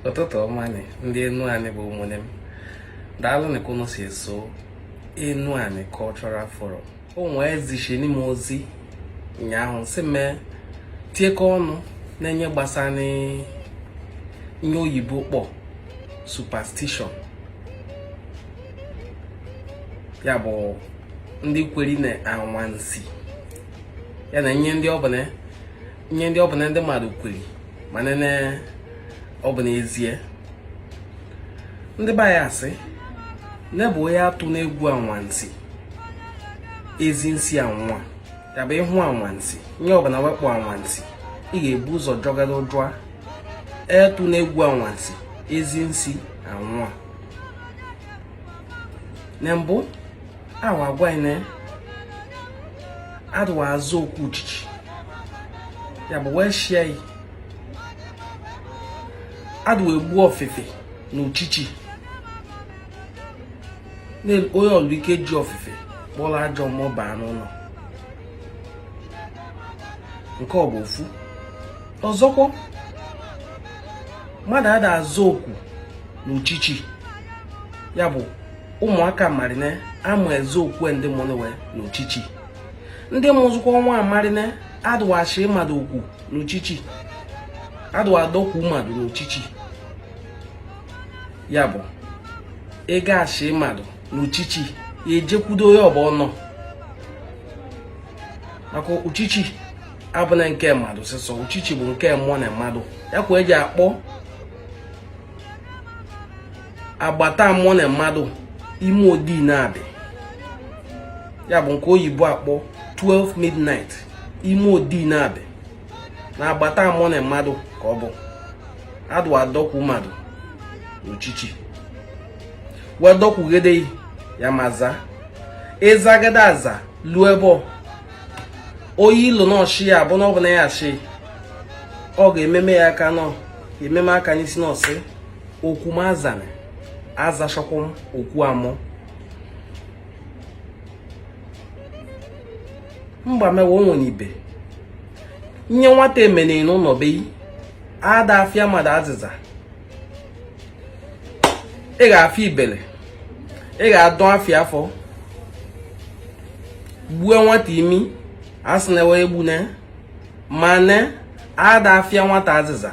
ụtụtụ ọma nị ndị enuani bụ ụmụnne m daalụ nị ka unu si eso enuani cultural forum o wee zishini m ozi ụnyaahụ si mee tiekọ ọnụ na nye gbasanị nye oyibo kpọ superstition ya bụ ndị kweri na anwansi ya na nye ndị ọbụna nye ndị ọbụna ndị mmadụ kweri ma nene ọ bụ n'ezie ndị be anyị asị nebụ onye atụna egwu anwansi ezi nsi anwa ya bụ ịhụ anwansi nye ọbụna we kpọ anwansi ị ga-ebu ụzọ jọgara ụjụa atụna egwu anwansi ezi nsi anwa na mbụ awa agwa anyị na adịwa aza oku uchichi ya bụ we shị anyị adịwa egbu ofifi na uchichi o nwelu ike ji ofifi kpọlụ ajọ mmụọ baa n'ụlọ nke ọ bụ ofu ọzọkwa mmadụ ada aza oku na uchichi ya bụ ụmụaka marị ne ama aza oku ndị mụnụ we n'uchichi ndị mụzụkwa nwa marị ne adụwa achị mmadụ oku n'uchichi adụwa adọkwu mmadụ n'uchichi ya bụ ị ga-achị mmadụ n'uchichi ị jekwudo ya ebe ọ nọ maka uchichi abụna nke mmadụ sọsọ uchichi bụ nke mmụọ na mmadụ ya ka eji akpọ agbata mmụọ na mmadụ ime odi na-adị ya bụ nke oyibo akpọ 12 midnight ime odi na-adị na agbata mmụọ na mmadụ ka ọ bụ adụwa adọkwu mmadụ n'uchichi wee dọkwugide ya ama aza ị zagide aza luo ebe ọ oyi ilu n'ọshịa ya bụ na ọ bụ na ya achị ọ ga-ememe ya aka nọ ememe aka n'isi n'ọsị oku m azara aza chukwu oku amụ mgba mewe o nwere ibe nye nwata emene na be anyị ada afịa mmadụ azịza ị ga-afịa ibele ị ga-adọ afịa afọ gbuo nwata imi asị na ewe egbu na mana ada afịa nwata azịza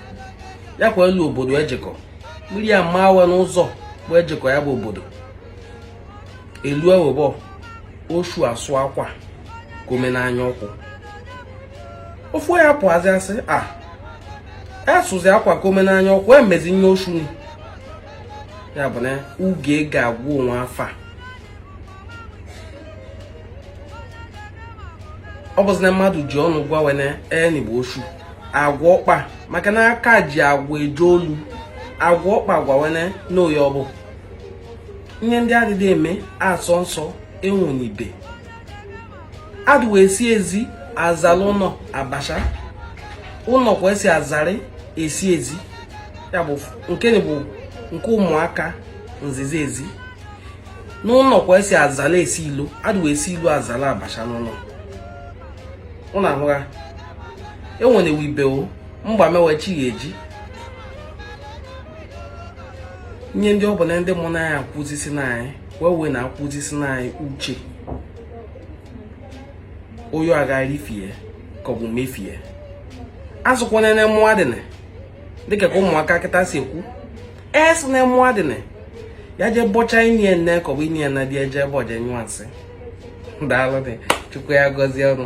ya kwa elu obodo ejekọ mmiri ya mma awa n'ụzọ bụ ejekọ ya bụ obodo elu ewebọ osu asụ akwa kome n'anya ọkụ ofu ya pụazi asị a asụzi akwa kome n'anya ọkụ emezi ya osu ya bụ na uge ga-agwụ onwe afa ọ bụzi na mmadụ ji ọnụ gwa we ne enyi bụ ochu agwa ọkpa maka na aka ji agwa eje olu agwa ọkpa gwa we ne oyi ọ bụ ihe ndị adịghị eme asọ nsọ enwunibe adịwe esi ezi azala ụlọ abacha ụlọ ka esi azarị esi ezi ya bụ nke bụ nke ụmụaka nzizi ezi n'ụlọ ka esi azala esi ilo adịwa esi ilo azala abacha n'ụlọ ụlọ ahụgha enwere wibewo mgbamewe chi ya eji nye ndị ọbụla ndị mụ na anyị akwụzisi na anyị wee wee na akwụzisi na anyị uche oyo agaghị ifie ka ọ bụ mefie asịkwana na mmadụ dịka ka ụmụaka kịta si ekwu eso na mụ adịna ya je bọcha inye nne ka ọ bụ inye nna dị eje ebe ọ je nyụọ nsị daalụ nụ chukwu ya gọzie ụnụ